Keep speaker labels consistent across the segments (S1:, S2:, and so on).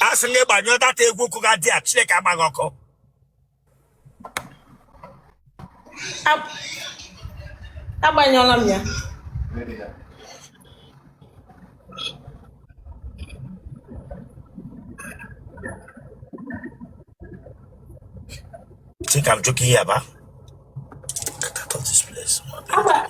S1: a sị gị gbanyụọ data egwu ụkwụ ga dị a chineke agba gị ọkụ Ab- agbanyụọla m ya chika m jụka ihe ya ba Get out of this place. Agba-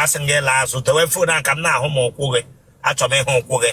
S1: a sị m gị laa azụ dewe fon a ka m na-ahụ m ụkwụ gị achọ m ịhụ ụkwụ gị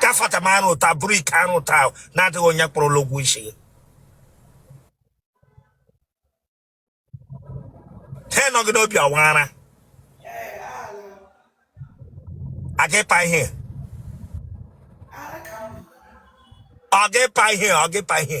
S1: ka fata m arụ ụta bụrụ ike arụ ụta ahụ na-adịghị onye kwụrụla ụgwọ isi gị ihe nọ gị n'obi ọwara aga ịpa ihe ọ ga ịpa ihe ọ ga ịpa ihe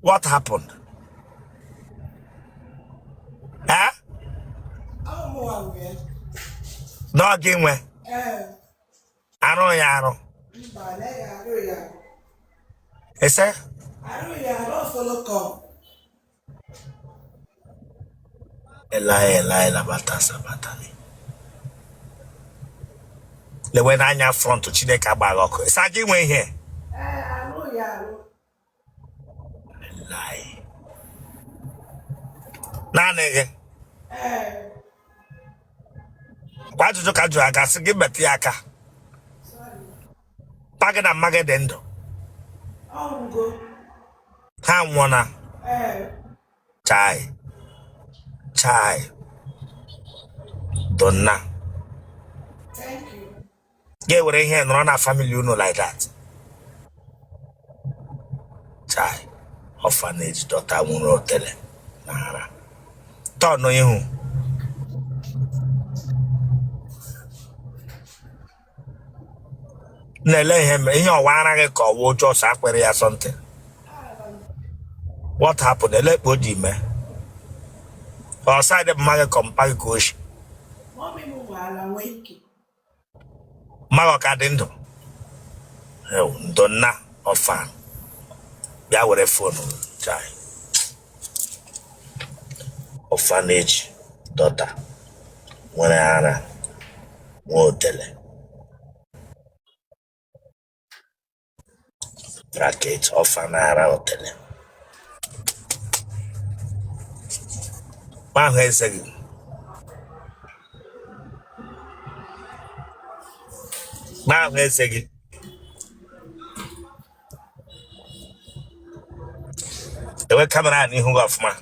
S1: what happened eh na ọ gị nwe arụ ya arụ ese Eloi Eloi labata sabatani lewe n'anya front chineke agba gị ọkụ ị sị ọ gị nwe ihe naanị gị kwa ajụjụ ka a jụrụ a ga-asị gị metụ ya aka mpa gị na mma gị dị ndụ ha anwụọna chai chai ndo nna ga-ewere ihe nọrọ na family unu like that chai orphanage daughter nwere otele na ara turn ihu na-ele ihe mere ihe ọ wụ ara gị ka ọ wụ oche ọsọ akpịrị ya something what happened elee ka o ji mee ọ side mma gị ka mpa gị ka o shi Mọmị m nwe ara nwee ike. mma gị ọ ka dị ndụ ndo nna orphan bịa were fonu chai orphanage daughter nwere ara nwee otele bracket ọfa na-ara otele ma ahụ eze gị ma ahụ eze gị dewe kamera a n'ihu gị ọfụma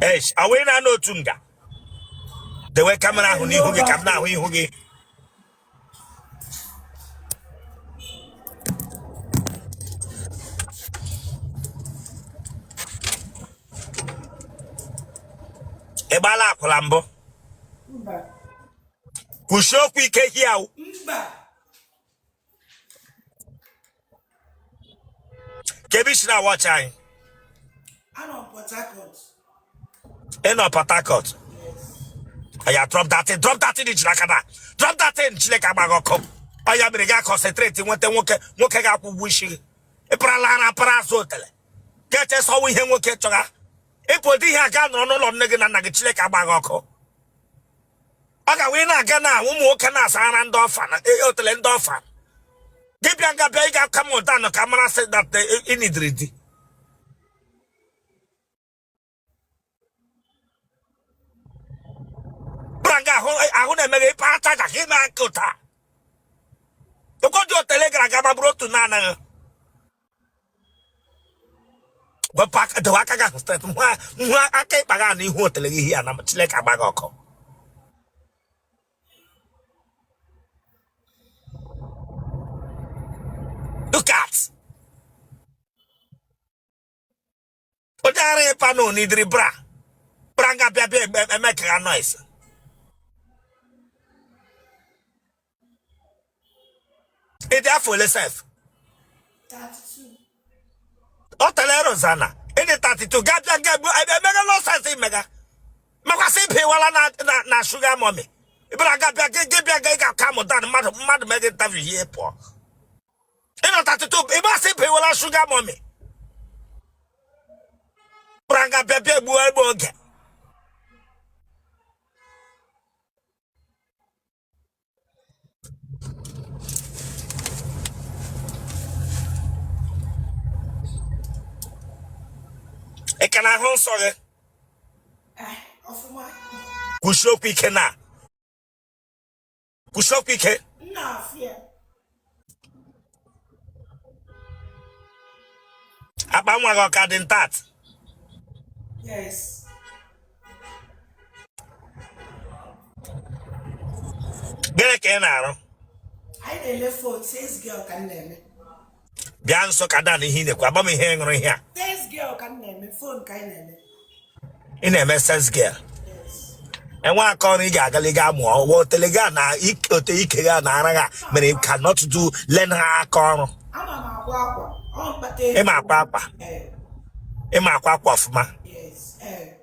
S1: Eish, away na no tunga. dewe kamera ahụ n'ihu gị ka m na-ahụ ihu gị ị gbaala akwụla mbụ kwusie okwu ike hiawu ka ebe isi na-awachi anyị Anọ m Port Harcourt. ị nọ Port Harcourt ya drop that thing drop that thing i ji n'aka na drop that thing Chineke agba gị ọkụ ọ ya mere ga concentrate nweta nwoke nwoke ga-akwụ ụgwọ isi gị ị parala ara para azụ otele ga-eche sọwa ihe nwoke chọga ịpụ ụdị ihe a gaa nọrọ n'ụlọ nne gị na nna gị Chineke agba gị ọkụ ọ ga wee na-aga na ụmụ nwoke na-asara ndị ọfa na e- otele ndị ọfa dibịa nga bịa ịga aka m ụda nọ ka mara sị that ị needịrị the bra nga ahụ ahụ na-emeghe ịpa acha ka ị na-aka ụta ụkọdị otele gara aga ma bụrụ otu na-anaghị wepụ aka dewe aka gị ahụ straight ngwa ngwa aka ịkpa gị na ihu otele gị ihe ya na Chineke agba gị ọkụ look at onye ara ịpa na ọ needịrị bra bra nga bịa bịa eme ka ha noise ị dị afọ ole sef ọ tara erozana ị dị 32 ga bịa ga emega nonsense ị mega makwa sị ị bawala na sugar mummy ịbara ga bịa gị bịa ga ị ga-aka mụta mmadụ mmadụ megị ntavi ihe pụọ ị nọ 32 ị ma sị ị bawala sugar mummy gbara nga bịa bịa gbuo egbe oge ị ka na-ahụ nsọ gị kwusie okwu ike na kwusie okwu ike akpa nwa gị ọ ka dị intact gịnị ka ị na-arụ bịa nso calm down ihe ị na-ekwu a gwa m ihe ị ṅụrụ ihe a Sales girl ka m na-eme fon ka anyị na-eme. ị na-eme sales girl enwe aka ọrụ ị ga-agali ga mụọ ọ wụ otele gị a na ik- ote ike gị a na ara gị a mere you cannot do learn ha aka ọrụ Ama m akwa akwa. Ọ m kpata ego. ị ma akwa akwa Eh, ị ma akwa akwa ọfụma yes. Eh.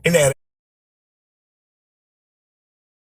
S1: ị na-ere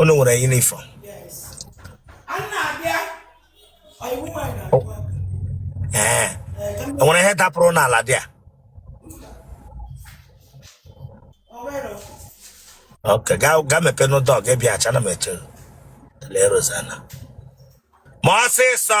S1: unu nwere uniform ee enwere ihe dapụrụ n'ala there ok gaa gaa mepee n'ụdọ gị bịa acha na m eche lee rozana mee ọsịsọ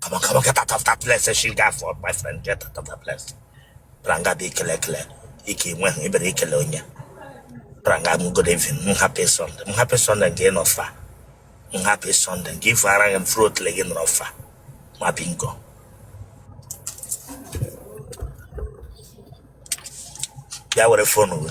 S1: Come on, come on, get out of that place, she got for my friend, get out of that place. Pranga be kele kele. Iki mwe, ibere ikele onye. Pranga mu good evening, mu happy Sunday, mu happy Sunday again of far. Mu happy Sunday, give arang and fruit legin of far. Ma bingo. Ya were phone uwe.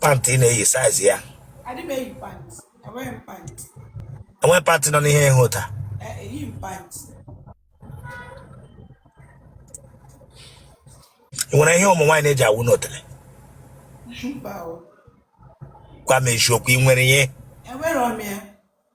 S1: pant ị na-eyi size ya adị m eyi pant enweghị m pant enwe pant nọ n'ihe ịhụ taa Ee, eyi m pant ị nwere ihe ụmụ nwaanyị na-eji awụ n'otele mba o gwa m eziokwu ị nwere ihe enwere m ya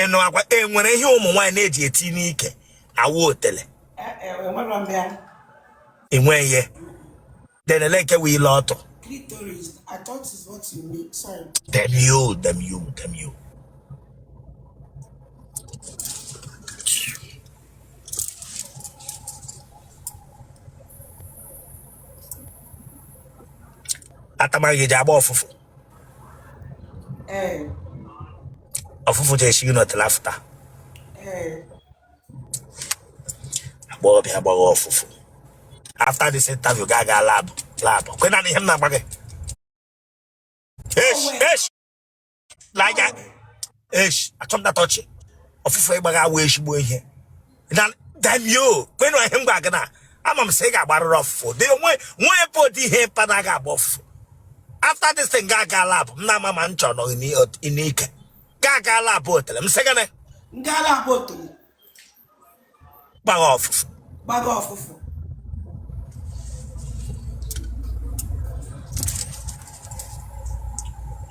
S1: ị nụkwa e nwere ihe ụmụ nwaanyị na-eji eti n'ike awụ otele enwe ihe denele nke wee ile ọtụ damn you damn you damn you atamaghị eji agba ọfụfụ ọfụfụ ji esi gị n'ọtụla afụta agba ọbịa agbaghị ọfụfụ after this interview ga aga lab lab kwenụ ihe m na-agwa gị na anya eshi achọ m na-atọ ọchị ọfụfụ ị gbagha awụ ezigbo ihe na damn you kwenụ ihe m gwa gị na-ama m sị ị ga-agbarịrị ọfụfụ dị onwe nwe ebe ụdị ihe mpa na-aga agba ọfụfụ after this thing ga ga lab m na-ama ma m chọrọ nọ n'ike ga ga lab otele m sị gịnị M gaa lab otele. gbagha ọfụfụ gbagha ọfụfụ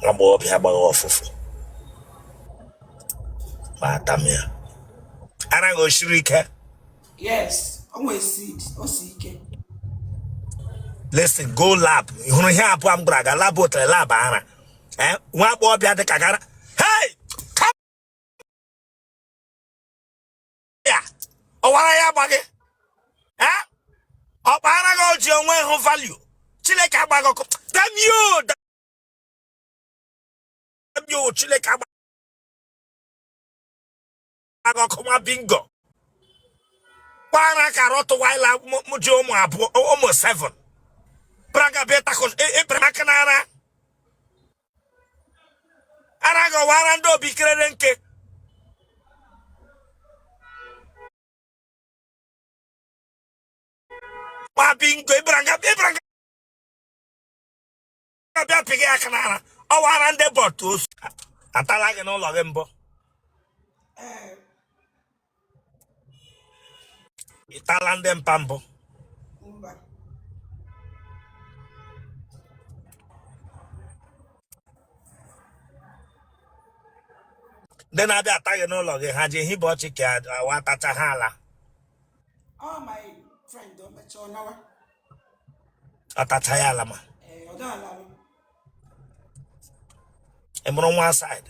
S1: agbọghọbịa gbagha ọfụfụ ma atam ya ara gị o siri ike yes o nwere seed o si ike listen go lab ị hụrụ ihe abụọ m gwara ga lab otere lab ara nwa agbọghọbịa dị ka gara ya ọwara ya agba gị ọ kpaara gị oji onwe hụ value chineke agba gị ọkụ damio damio chineke agba gị ọkụ nwa bingo kpaara ka rottweiler ji ụmụ abụọ ụmụ seven braga bịa takos ịbara e, e, aka n'ara ara gị ọ wụ ara ndị obi kerere nke nwa bingo ịbara nga ịbara nga bịa pị gị aka n'ara ọ wụ ara ndị bọtụ osu atala gị n'ụlọ gị mbụ ịtala ndị mpa mbụ ndị na-abịa ata gị n'ụlọ gị ha ji ehibe ọchị ka awa atacha ha ala atacha ya ala ma ị mụrụ one side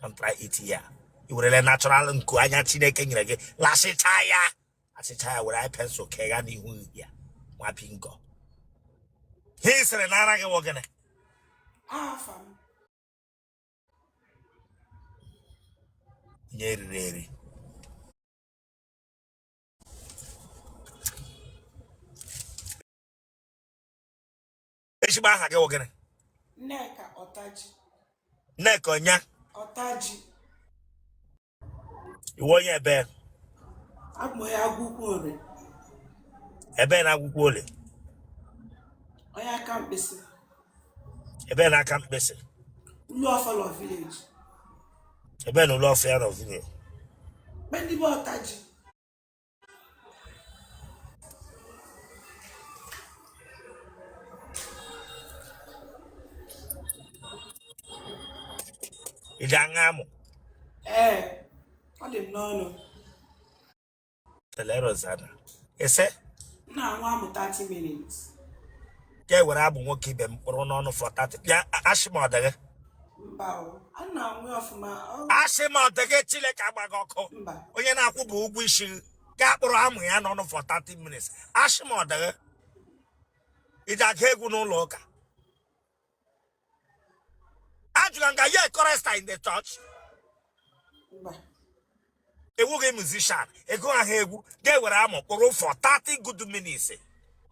S1: can try it here i werele natural nku anya chineke nyere gị lasịcha ya asịcha ya were pensụl kaa ya n'ihu ya nwa bingo ha sịrị na aha gị wụ gịnị onye eriri eri ezigbo aha gị wụ gịrị nneka ọtaji nneka onye ọtaji ị wụ onye ebe abụ onye agwụkwọ ole ebe na agwụkwọ ole onye aka mkpịsị ebe na aka mkpịsị ulu ọfọlọ village ebe na ụlọ ọfịa nọ village ndị be ọtaji ị ga-aṅụ amụ ee ọ dị m n'ọnụ telerozana ese m na-aṅụ amụ 30 minutes ka e were amụ nwoke ibe m kpụrụ n'ọnụ for 30 bịa asị m ọ dịghị asị m ọ dịghị chineke agba gị ọkụ onye na-akwụ bụ ụgwọ isi ka a kpụrụ amụ ya n'ọnụ for 30 minutes asị m ọ dịghị i ji agụ egwu n'ụlọ ụka ajụrụ m gị are you a chorister in the church mba ị wụghị musician ị gụhụ egwu gị ewere amụ kpụrụ for 30 good minutes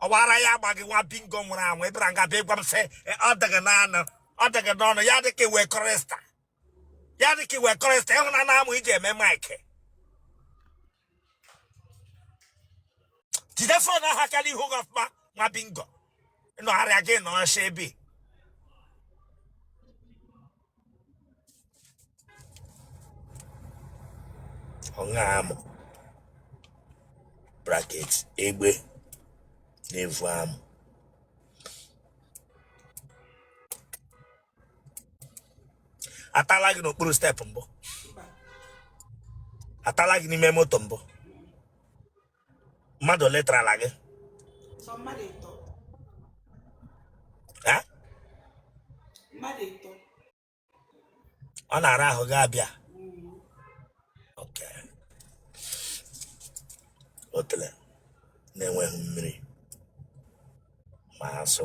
S1: ọbara ya agba gị nwa bingo nwụrụ anwụ ị bịara nga bịa gwa m sị "Eh, ọ dịghị n'anụ ọ dị gị n'ọnụ ya dịka ị wụ chorister ya dịka ị wụ chorister ị hụna na amụ i ji eme maịkị jide phone ahụ ka e lee ihu gị ọfụma nwa bingo nọgharịa gị nọ ọsha ebe ọṅa amụ bracket egbe na-evu amụ atala gị n'okpuru step mbụ atala gị n'ime moto mbụ mmadụ ole tarala gị ọ na-ara ahụ gị abịa otele na-enweghị mmiri ma asụ